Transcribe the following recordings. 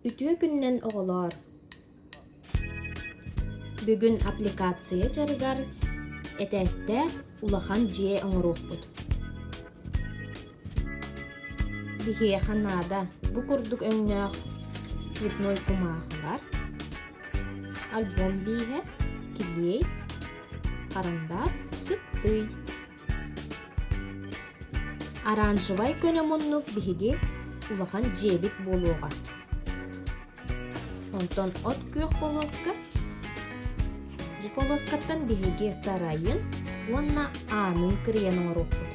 Үтүө күннэн оҕолоор! Бүгүн аппликация дьарыгар этээстээх улахан дьиэ оҥоруохпут. Биһиэхэ наада бу курдук өҥнөөх цветной кумаахылар, альбом бииһэ, килиэй, карандас, кыттый. Оранжевай көнө муннук биһиги улахан дьиэбит буолуоҕа. Онтон от күөх полоска бу полоскаттан биһиги сарайын уонна аанын кырыйан оҥоруохпут.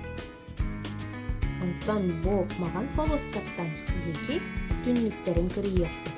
Онтон бу маҕан полоскаттан биһиги түннүктэрин кырыйыахпыт.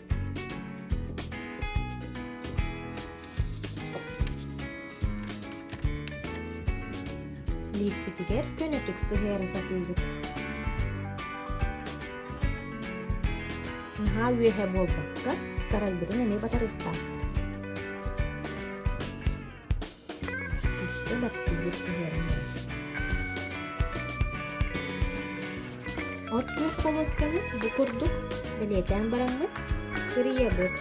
Лииспитигэр көнөтүк сыһыара сатыыбыт. Наһаа үөһэ буолбакка, сарайбытын эмиэ батарыыстаахпыт. Күүскэ баттыыр сыһыаннаах От куук болуосканы бу курдук бэлиэтээн бараммыт, кырыйабыт.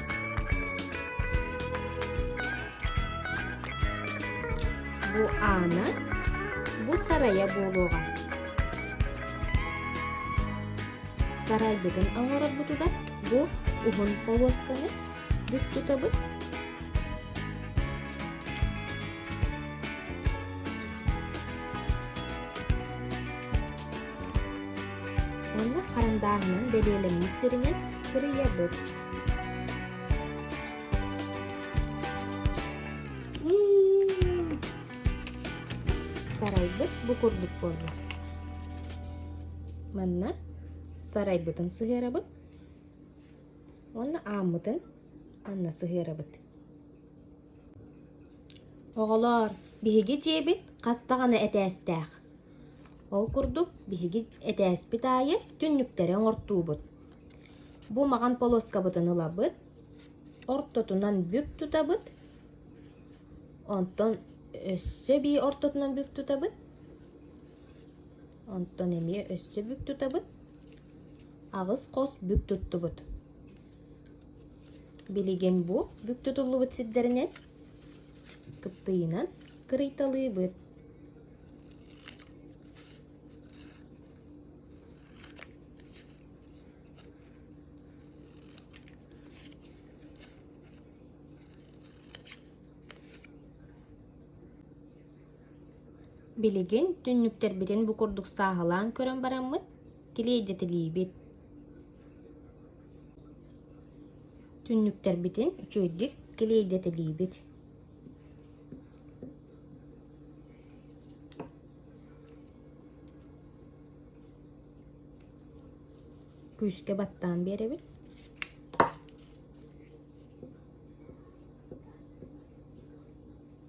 Бу аана, бу сарайа буолуоҕа. Сарайбытын оҥорорбутугар бу уһун полуосканы бүт тутабыт Онна харандааһынан бэлиэлэммит сиринэн сырыйабыт. Сарайбыт бу курдук буолла. Манна сарайбытын сыһыарабыт. Уонна ааммытын манна сыһыарабыт. Оҕолоор, биһиги дьиэбит хас даҕаны этээстээх. Ол курдук биһиги этээспит аайы түннүктэри оҥортуубут. Бу маҕан полоскабытын ылабыт, ортотунан бүк тутабыт, онтон өссө эбии ортотунан бүк тутабыт. Онтон эмиэ өссө бүк тутабыт, аҕыс хос бүк туттубут. Билигин бу бүк тутуллубут сирдэринэн кыптыйынан кырыйталыыбыт. Билигин түннүктэрбитин бу курдук сааһылаан көрөн бараммыт, килиэйдэтилиибит Түннүктэрбитин үчүгэйдик килиэйдэтилиибит Күүскэ баттаан биэрэбин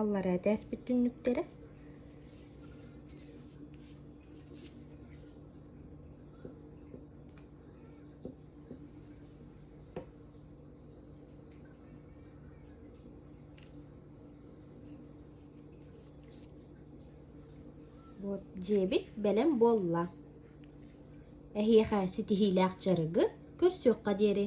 Аллараа этээспит түннүктэрэ Вот дьиэбит бэлэм буолла. Эһиэхэ ситиһиилээх дьарыгы көрсүөххэ диэри.